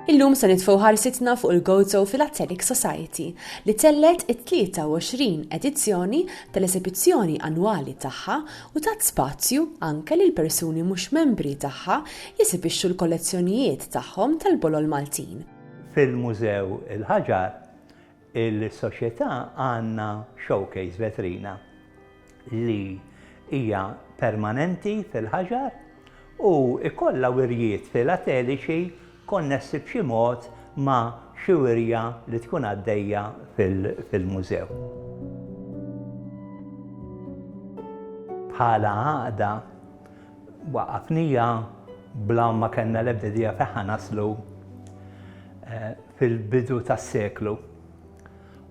Illum se nitfgħu ħarsitna fuq il-Gozo Philatelic Society li tellet it-23 edizzjoni tal-esebizzjoni annwali tagħha u tat spazju anke lil persuni mhux membri tagħha jesibixxu l-kollezzjonijiet tagħhom tal-bolol Maltin fil-Mużew il-Ħaġar, Il-Soċjetà għandna showcase, vetrina, li hija permanenti fil-ħaġar u jkollha wirjiet filateliċi konnessi b'xi mod ma' xi wirja li tkun għaddejja fil-Mużew. Bħala Għaqda, waqqafnija bla ma kellna l-ebda idea fejn ħa naslu. fil-bidu tas-seklu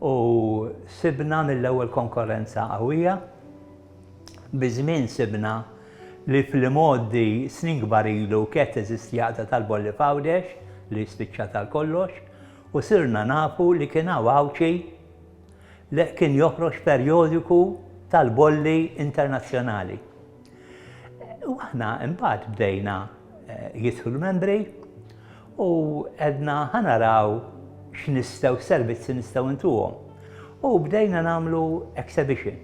u sibna mill-ewwel konkorrenza qawwija. Biż-żmien sibna li fl-imgħoddi snin kbar ilu kienet teżisti għaqda tal-bolli f'Għawdex li spiċċat għal kollox u sirna nafu li kien hawn Għawdxi li kien joħroġ perjodiku tal-bolli internazzjonali. U aħna imbagħad bdejna jidħlu membri U għedna ħa naraw x'nistgħu, x'servizzi nistgħu ntuhom. U bdejna nagħmlu exhibition.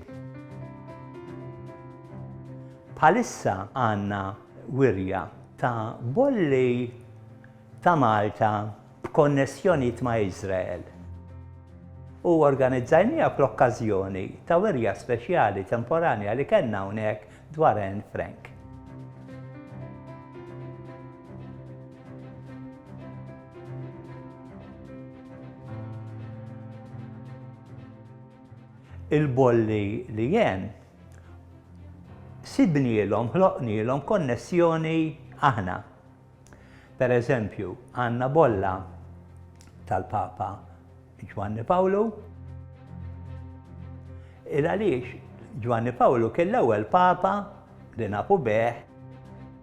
Bħalissa għandna wirja ta' bolli ta' Malta b'konnessjonijiet ma' Iżrael. U organizzajniha fl-okkażjoni ta' wirja speċjali temporanja li kellna hawnhekk dwar Anne Frank. il-bolli li jen, sibnielhom, ħloqnielhom konnessjoni aħna. Pereżempju, għandna bolla tal-Papa Ġwanni Pawlu. Il għaliex Ġwanni Pawlu kien l-ewwel Papa li nafu bih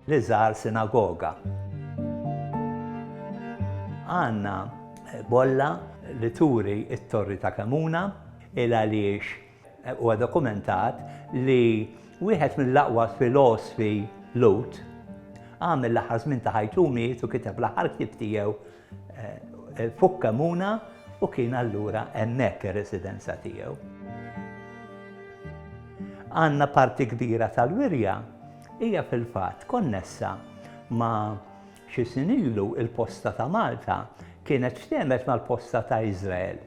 li żar sinagoga. Għandna bolla li turi t-Torri ta' Kemuna il għaliex Huwa dokumentat li wieħed mill-aqwa filosfi Lhud għamel l-aħħar żmien ta' ħajtu u miet u kiteb l-aħħar ktieb tiegħu fuq Kemuna u kien allura hemmhekk ir-residenza tiegħu. Għandna parti kbira tal-wirja hija fil-fatt konnessa ma' xi snin ilu il-posta ta' Malta kienet x'temet mal-posta ta' Iżrael.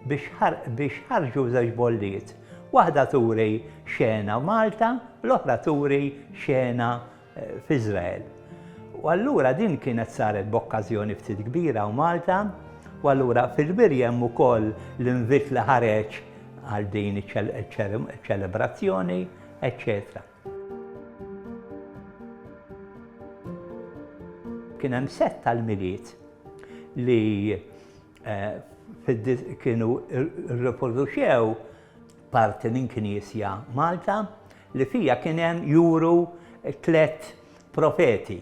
biex ħarġu żewġ bolliet, waħda turi xena Malta, l-oħra turi xena f'Iżrael. U allura din kienet saret b'okkażjoni ftit kbira u Malta, u allura fil-Wirja hemm ukoll l-invit li ħareġ għal din iċ-ċelebrazzjoni, eċċetera. Kien hemm sett tal-Milied li kienu rriproduċew parti minn knisja Malta li fija kien hemm juru tliet profeti.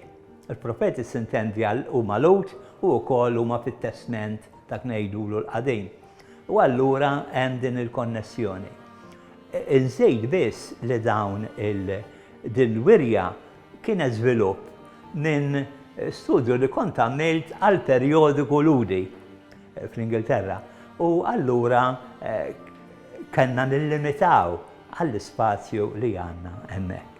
Il-profeti sintendi għal huma Lut u wkoll huma fit-testment dak ngħidulu l-qadim. U allura hemm din il-konnessjoni. Inżid biss li dawn il-din wirja Kienet żvilupp minn studju li kont għamilt għal perjodiku Lhudi fl-Ingilterra u allura kellna nillimitaw għall-ispazju li għandna hemmhekk.